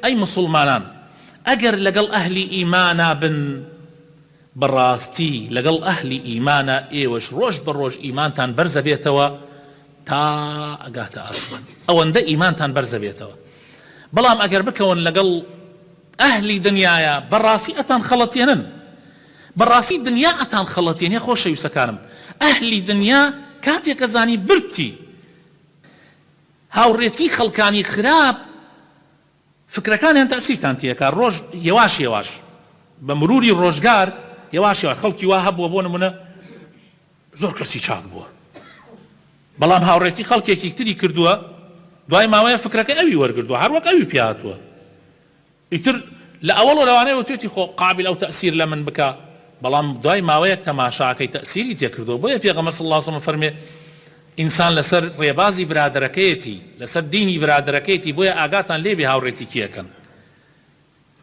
ئەی موسوڵمانان ئەگەر لەگەڵ ئەهلی ئیمانا بن بەڕاستی لەگەڵ ئەهلی ئیمانا ئێوەش ڕۆژ بە ڕۆژ ئیمانتان بەرزەبێتەوە تا ئەگاتە ئاسمان ئەوەندە ئیمانتان بەرزەبێتەوە بەڵام ئەگەر بکەون لەگەڵ ئەهلی دنیایا بەڕاستی ئەتان خەڵەتێنن بەڕاستی دنیا ئەتان خەڵەتێنێ خۆشەویستەکانم ئەهلی دنیا کاتێک ئەزانی بردتی هاوڕێتی خەڵکانی خراپ فکرەکانیان تەئسیرتان تێکا ڕۆژ یەواش یەواش بە مروری ڕۆژگار یەواش یەواش خەڵکی وا هەبووە بۆ نمونە زۆر کەسی چاک بووە بەڵام هاوڕێتی خەڵکێکی تری کردووە دوای ماوەیە فکرەکەی ئەوی وەرگردووە هەر وەک ئەوی پێ هاتووە. ئیتر لە ئەوەڵ و لەوانەیە وتێتی خۆ قابیل ئەو تەئسیر لە من بکا بەڵام دوای ماوەیەک تەماشاکەی تەئسیری تێ کردووە بۆیە پێغەمبەر صلی اللە علیە وسلم ئەفەرموێ ئینسان لەسەر ڕێبازی برادەرەکەیەتی لەسەر دینی برادەرەکەیەتی بۆیە ئاگاتان لێبێ هاوڕێتی کێ ئەکەن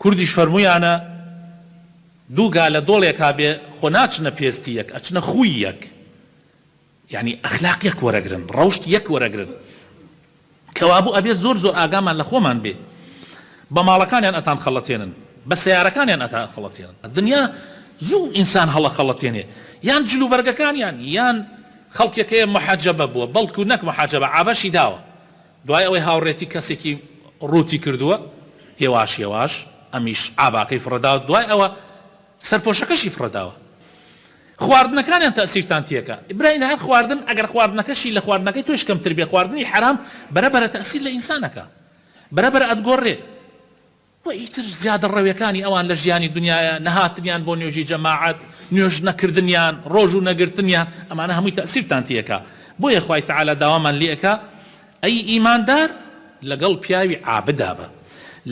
کوردیش فەرموویانە دوو گا لە دۆڵێکا بێ خۆ ناچنە پێستی یەک ئەچنە خووی یەک. یانی ئەخلاق یەک وەرەگرن ڕەوشت یەک وەرەگرن کەوابوو ئەبێ زۆر زۆر ئاگامان لە خۆمان بێ بە ماڵەکانیان ئەتان خەڵەتێنن بە سەیارەکانیان ئەتان خەڵەتێنن دنیا زوو ئینسان هەڵە خەڵەتێنێ یان جل و بەرگەکانیان یان خەڵکێک هەیە محەجەبە بووە بەڵکو نەک محەجەبە عابەشی داوە دوای ئەوەی هاوڕێتی کەسێکی ڕووتی کردووە هێواش هێواش ئەمیش عاباکەی فڕەداوە دوای ئەوە سەرپۆشەکەشی فڕێداوە خواردنەکانیان تەئسیرتان تیەکا برای لەهەر خواردن ئەگەر خواردنەکەشی لە خواردنەکەی تۆش کەمتر بێ خواردنی حەرام بەرە بەرە تەئسیر لە ئینسان ئەکا بەرە بەرە ئەتگۆڕێ وە ئیتر زیادە ڕەوێکانی ئەوان لە ژیانی دنیایە نەهاتنیان بۆ نوێژی جەماعەت نوێژ نەکردنیان ڕۆژوو نەگرتنیان ئەمانە هەمووی تەئسیرتان تیەکا بۆیە خوای تەعالا داوامان لێ ئەکا ئەی ئیماندار لەگەڵ پیاوی عابدا بە،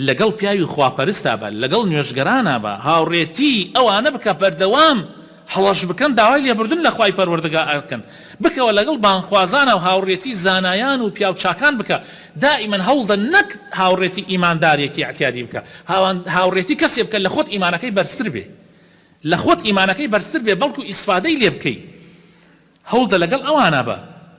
لەگەڵ پیاوی خواپەرستا بە، لەگەڵ نوێژگەرانا بە، هاوڕێتیی ئەوانە بکە، بەردەوام هەڵەش بکەن داوای لێبوردن لە خوای پەروەردگار ئەکەن، بکەوە لەگەڵ بانگخوازانا و هاوڕێتیی زانایان و پیاو چاکان بکە، دائیمەن هەوڵدە نەک هاوڕێتی ئیماندارێکی ئیعتیادی بکە، هاوڕێتی کەسێ بکە لە خۆت ئیمانەکەی بەرزتر بێ، لە خۆت ئیمانەکەی بەرزتر بێ بەڵکو ئیسفادەی لێبکەی، هەوڵدە لەگەڵ ئەوانا بە.